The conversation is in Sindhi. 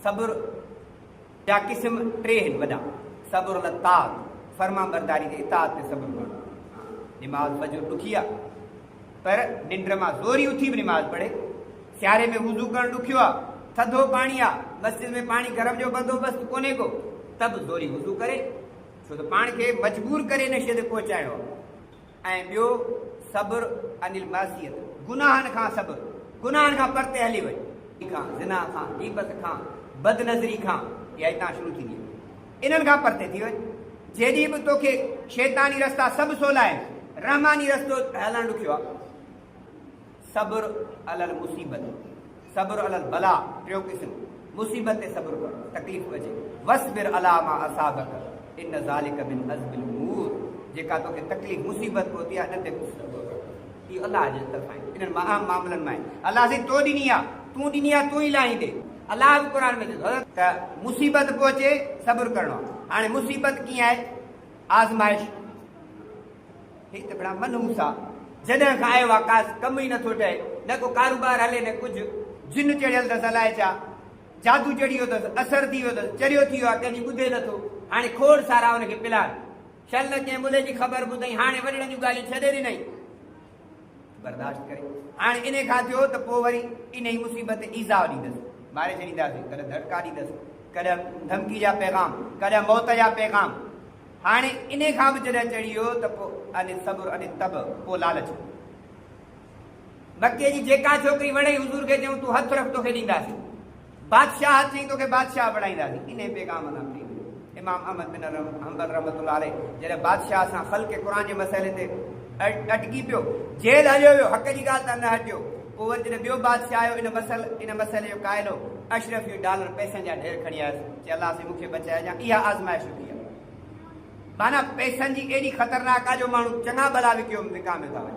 صبر جا قسم ٽي آهن وڏا، صبر علي الطاعت، فرمانبرداري جي اطاعت تي صبر ڪرڻ، نماز فجر ڏکي آهي پر ننڊ مان زوري اٿي به نماز پڙهي، سياري ۾ وضو ڪرڻ ڏکيو آهي، ٿڌو پاڻي آهي، مسجد ۾ پاڻي گرم جو بندوبست ڪونهي ڪو ته به زوري وضو ڪري، ڇو ته پاڻ کي مجبور ڪري نشي تي پهچائڻو آهي، ۽ ٻيو صبر عن المعصية، گناهن کان صبر، گناهن کان پرتي هلي وڃ. کان، زنا کان، غيبت کان، بد نظري کان، اها هتان شروع ٿيندي آهي. انهن کان پرتي ٿي وڃ. جيڏيهن به توکي شيطاني رستا سڀ سولا آهن، رحماني رستو هلڻ ڏکيو آهي. صبر علي المصيبت، صبر علي البلاء، ٽيون قسم، مصيبت تي صبر ڪرڻ، تڪليف ڪجي، واصبر علي ما اصابک ان ذلک من عزم الامور، جيڪا توکي تڪليف، مصيبت پهتي آهي، انهن تي به صبر ڪر، اهو الله جي طرفان آهي، انهن مهام معاملن مان آهي، الله سائين تو ڏني آهي، تون ڏني آهي، تون ئي لاهيندين، الله به قرآن ۾ چئي ٿو. ته مصيبت پهچي صبر ڪرڻو آهي، هاڻي مصيبت ڪيئن آهي؟ آزمائش، هي ته گھڻا منحوس آ. جڏهن کان آيو آ ڪاس ڪم ئي نٿو ٺهي. نه ڪو ڪاروبار هلي نه ڪجھ. جن چڙهيل ٿس الائي ڇا جادو چڙهي ويو ٿس، اثر ٿي ويو ٿس، چريو ٿي ويو آ ڪنهن جي ٻڌي نٿو. هاڻي کوڙ سارا ان کي پلار. شل نه ڪنهن ملهي جي خبر ٻڌئين هاڻي وڏڙن جون ڳالهيون ڇڏي ڏنئين. برداشت ڪري هاڻي انهي کان ٿيو ته پوء وري انهي مصيبت تي ايذاء ڏيندس. ماري ڇڏينداسين. ڪڏهن ڌڙڪا ڏيندس. ڪڏهن ڌمڪي جا پيغام. ڪڏهن موت جا پيغام. هاڻي انهي کان به جڏهن چڙهي ويو ته پوء ان الصبر ان الطبع پوء لالچ هو. مڪي جي جيڪا ڇوڪري وڻئي حضور کي چيائون تون هٿ رک توکي ڏينداسين. بادشاهه ٿئين توکي بادشاهه بڻائينداسين. انهي پيغام سان ٿي مليو. امام احمد بن حنبل رحمة الله عليه جڏهن بادشاهه سان خلق قرآن جي مسئلي تي اٽڪي پيو، جيل هليو ويو، حق جي ڳالهه تان نه هٽيو، پوء وري جڏهن ٻيو بادشاهه آيو ان مسئلي جو قائل هو، اشرفيون ڊالر پئسن جا ڍير کڻي آيس. چي الله سين مون کي بچائي جا اها آزمائش هوندي آهي معنيٰ پئسن جي ايڏي خطرناڪ آهي جو ماڻهو چڱا ڀلا وڪيو وڪاميو ٿا وڃن.